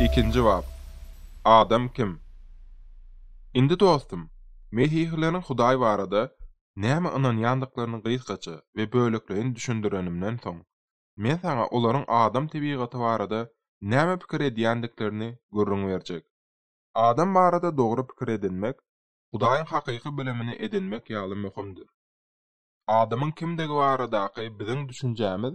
Ikinji bap. Adam kim? Indi dostum, mesihileriň Hudaý barada nämä ynanýandyklaryny gysgaça we bölekleýin düşündirenimden soň, men saňa olaryň adam tebigaty barada näme pikir edýändiklerini gürrüň berjek. Adam barada dogry pikir edinmek Hudaýyň hakyky bilimini edinmek ýaly möhümdir. Adamyň kimdigi baradaky biziň düşünjämiz,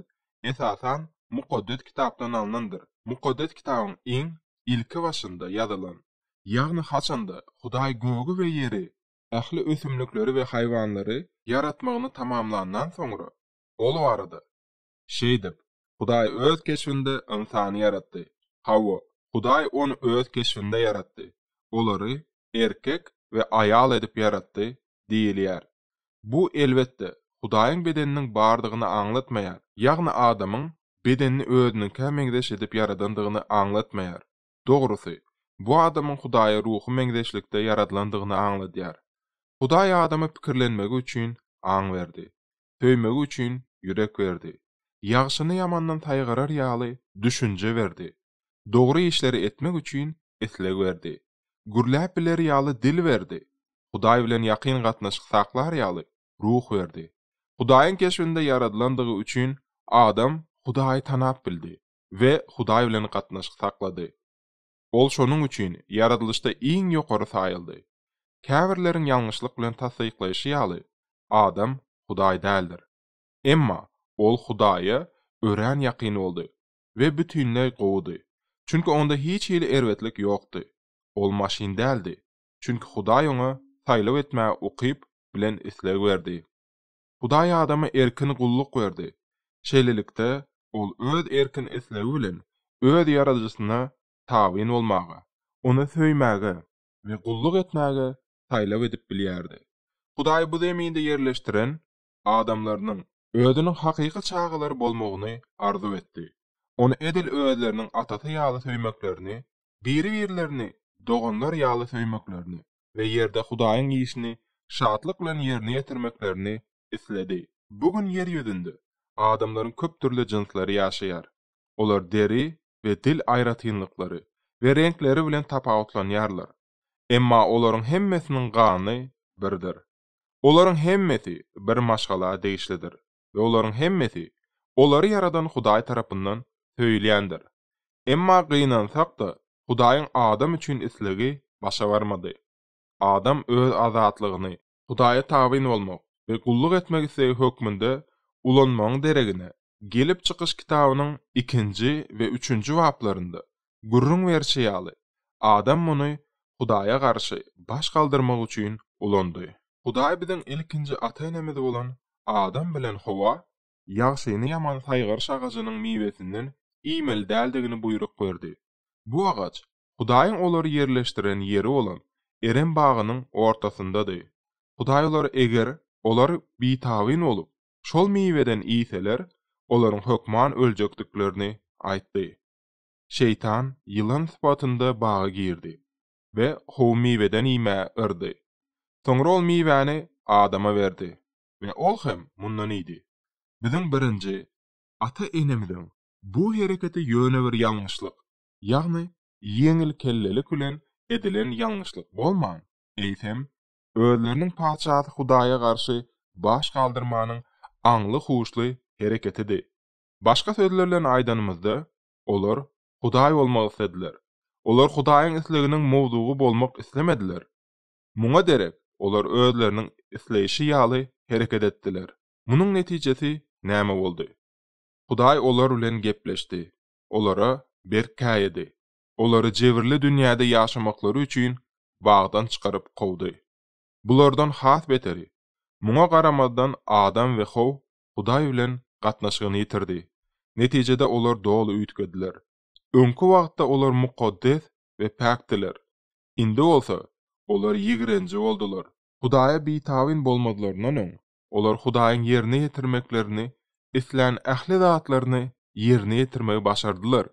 esasan, Mukaddes Kitapdan alnandyr. Mukaddes Kitabyň iň ilki başynda ýazylan, ýagny haçanda Hudaý gögi we ýeri, ähli ösümlikleri we haýwanlary ýaratmagyny tamamlandan soňra, ol barada, Şeýdip, Hudaý Öz keşbinde ynsany ýaratdy. Hawa, Hudaý ony Öz keşbinde ýaratdy. Olary erkek we aýal edip ýaratdy diýilýär. Bu, elbetde, Hudaýyň bedeniniň bardygyny aňlatmaýar, ýagny adamyň bedenini özüniňkä meňzeş edip ýaradandygyny aňlatmaýar. Dogrusy, bu adamyň Hudaýa ruhy meňzeşlikde ýaradylandygyny aňladýar. Hudaý adama pikirlenmegi üçin aň berdi. Söýmegi üçin ýürek berdi. Ýagşyny ýamandan saýgarar ýaly düşünje berdi. Dogry işleri etmek üçin isleg berdi. Gürläp biler ýaly dil berdi. Hudaý bilen ýakyn gatnaşyk saklar ýaly ruh berdi. Hudaýyň keşbinde ýaradylandygy üçin adam Hudaýy tanap bildi. we Hudaý bilen gatnaşyk saklady. Ol şonuň üçin ýaradylyşda iň ýokary saýyldy. Käbirleriň ýalňyşlyk bilen tassyklaýşy ýaly, adam Hudaý däldir. Emma ol Hudaýa örän ýakyn boldy we bütinleý gowudy, çünki onda hiç hili erbetlik ýokdy. Ol maşyn däldi, çünki Hudaý oňa saýlaw etmäge ukyp bilen isleg berdi. Hudaý adama erkin gulluk berdi. Şeýlelikde, ol öz erkin islegi bilen öz Ýaradyjysyna tabyn bolmagy, Ony söýmäge we gulluk etmäge saýlaw edip bilýärdi. Hudaý bu zeminde ýerleşdiren adamlarynyň Özüniň hakyky çagalary bolmagyny arzuw etdi, Ony edil özleriniň Atasy ýaly söýmeklerini biri-birlerini doganlar ýaly söýmeklerini we ýerde Hudaýyň işini şatlyk bilen ýerine ýetirmeklerini isledi. Bu gün ýer ýüzünde adamlaryň köp dürli jynslary ýaşaýar. Olar deri we dil aýratynlyklary we reňkleri bilen tapawutlanýarlar. Emma olaryň hemmesiniň gany birdir. Olaryň hemmesi bir maşgala degişlidir. we olaryň hemmesi olary ýaradan Hudaý tarapyndan söýülýändir. Emma gynansak-da, Hudaýyň adam üçin islegi başa barmady. Adam öz azatlygyny Hudaýa tabyn bolmak we gulluk etmek islegi hökmünde ulanmagyň deregine, Gelip çykyş kitabynyň ikinji we üçünji baplarynda gürrüň berşi ýaly, adam muny Hudaýa garşy baş galdyrmak üçin ulandy. Hudaý biziň ilkinji ata-enemiz bolan Adam bilen Howa, ýagşyny ýamany saýgaryş agajynyň miwesinden iýmeli däldigini buýruk berdi. Bu agaç Hudaýyň olary ýerleşdiren ýeri bolan Erem bagynyň ortasyndady. Hudaý olara eger olar bitabyn bolup, şol miweden iýseler, olaryň hökman öljekdiklerini aýtdy. Şeýtan ýylan sypatynda baga girdi we how miweden iýmä yrdy. Soňra ol miwäni Adama berdi we ol hem mundan iýdi. Biziň birinji ata-enemiziň bu hereketi ýöne bir ýalňyşlyk, ýagny ýeňilkellelik bilen edilen ýalňyşlyk bolman, eýsem, özleriniň Patyşasy Hudaýa garşy baş galdyrmanyň aňly-huşly hereketidi. Başga sözler bilen aýdanymyzda, olar Hudaý bolmak islediler. Olar Hudaýyň isleginiň mowzugy bolmak islemediler. Muňa derek, olar özleriniň isleýşi ýaly hereket etdiler. Munuň netijesi näme boldy? Hudaý olar bilen gepleşdi. Olara berk käýedi. Olary jebirli dünýäde ýaşamaklary üçin bagdan çykaryp kowdy. Bulardan has beteri, muňa garamazdan Adam we How Hudaý bilen gatnaşygyny ýitirdi. Netijede olar doly üýtgediler. Öňki wagtda olar mukaddes we päkdiler. Indi bolsa, olar ýigrenji boldular. Hudaýa bitabyn bolmazlaryndan öň, olar Hudaýyň ýerine ýetirmeklerini islän ähli zatlaryny ýerine ýetirmegi başardylar.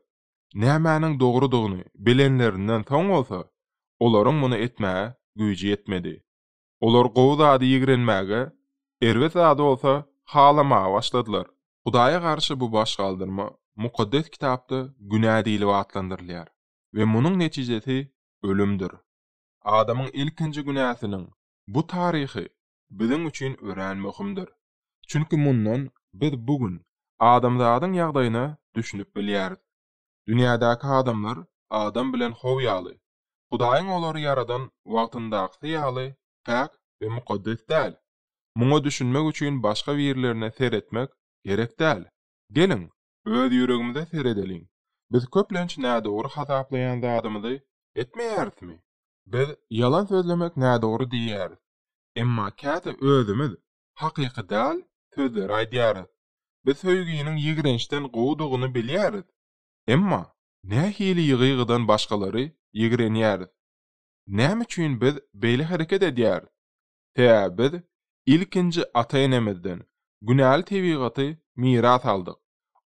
Nämäniň dogrudygyny bilenlerinden soň bolsa, olaryň muny etmäge güýji ýetmedi. Olar gowy zady ýigrenmäge, erbet zady bolsa halamaga başladylar. Hudaýa garşy bu baş galdyrma Mukaddes Kitapda günä diýlip atlandyrylýar we munuň netijesi ölümdir. Adamyň ilkinji günäsiniň bu taryhy biziň üçin örän möhümdir. Çünki mundan biz bu gün adamzadyň ýagdaýyna düşünip bilýäris. Dünýädäki adamlar Adam bilen How ýaly, Hudaýyň olary ýaradan wagtyndakysy ýaly päk we mukaddes däl. Muňa düşünmek üçin başga birlerine seretmek gerek däl. Geliň, öz ýüregimize seredeliň. Biz köplenç nädogry hasaplaýan zadymyzy etmeýärismi? Biz ýalan sözlemek nädogry diýýäris. Emma käte özümiz hakyky däl sözleri aýdýarys. Biz söýginiň ýigrençden gowudygyny bilýäris. Emma nähili ýygy-ýygydan başgalary ýigrenýäris? Näme üçin biz beýle hereket edýäris? Sebäbi biz ilkinji ata-enemizden günäli tebigaty miras aldyk.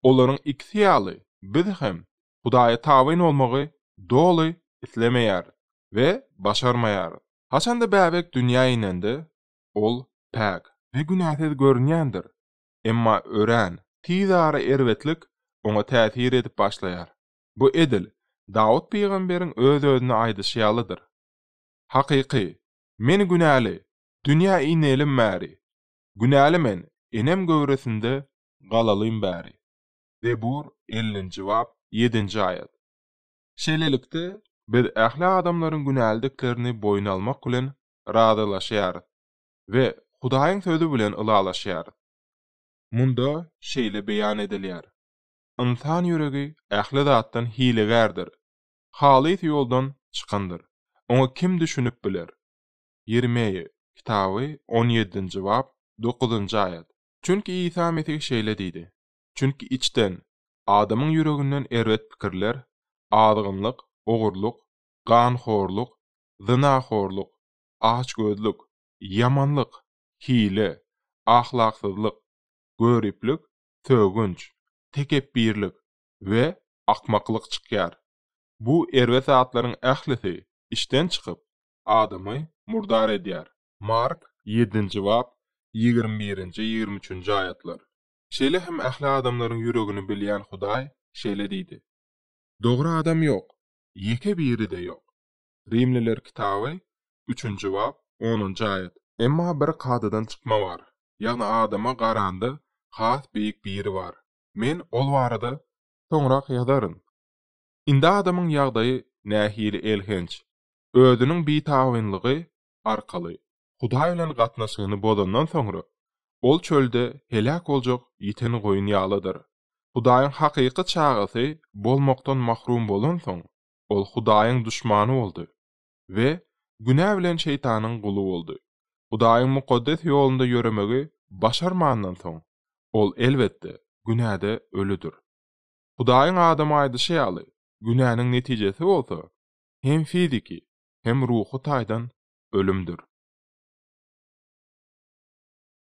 Olaryň ikisi ýaly biz hem Hudaýa tabyn bolmagy doly islemeýäris we başarmaýarys. Haçan-da bäbek dünýä inende, Ol päk we günäsiz görünýändir. Emma örän tiz ara erbetlik oňa täsir edip başlaýar. Bu edil Dawut pygamberiň öz-özüne aýdyşy ýalydyr. Hakyky, men günäli, dünýä inelim bäri. Günäli men, enem göwresinde galalym bäri. Zebur ellinji bap ýedinji aýat. Şeýlelikde, biz ähli adamlaryň günälidiklerini boýun almak bilen razylaşýarys we Hudaýyň Sözi bilen ylalaşýarys. Munda şeýle beýan edilýär, Ynsan ýüregi ähli zatdan hilegärdir, halys ýoldan çykandyr, oňa kim düşünip biler? Ýermeýa kitaby on ýedinji bap, dokuzynjy aýat. Çünki Isa Mesih şeýle diýdi, Çünki içden, adamyň ýüreginden erbet pikirler, azgynlyk, ogurlyk, ganhorluk, zynahorlyk, açgözlük, ýamanlyk, hile, ahlaksyzlyk, göriplik, sögünç, tekepbirlik we akmaklyk çykýar. Bu erbet zatlaryň ählisi işden çykyp, adamy murdar edýär. Mark ýedinji bap, ýigrimi birinji, ýigrimi üçünji aýatlar. Şeýle hem ähli adamlaryň ýüregini bilýän Hudaý şeýle diýdi, Dogry adam ýok, ýeke biri-de ýok. Rimliler kitaby, üçünji bap, onunjy aýat. Emma bir kadadan çykma bar, ýagny adama garanda has beýik biri bar. Men ol barada soňrak ýazaryn. Indi adamyň ýagdaýy nähili elhenç! Özüniň bitabynlygy arkaly Hudaý bilen gatnaşygyny bozandan soňra, ol çölde heläk boljak ýiten goýun ýalydyr. Hudaýyň hakyky çagasy bolmakdan mahrum bolansoň, Ol Hudaýyň duşmany boldy we günä bilen Şeýtanyň guly boldy. Hudaýyň mukaddes ýolunda ýöremegi başarmandan soň, ol, elbetde, günäde ölüdir. Hudaýyň Adama aýdyşy ýaly, günäniň netijesi bolsa, hem fiziki, hem ruhy taýdan ölümdir.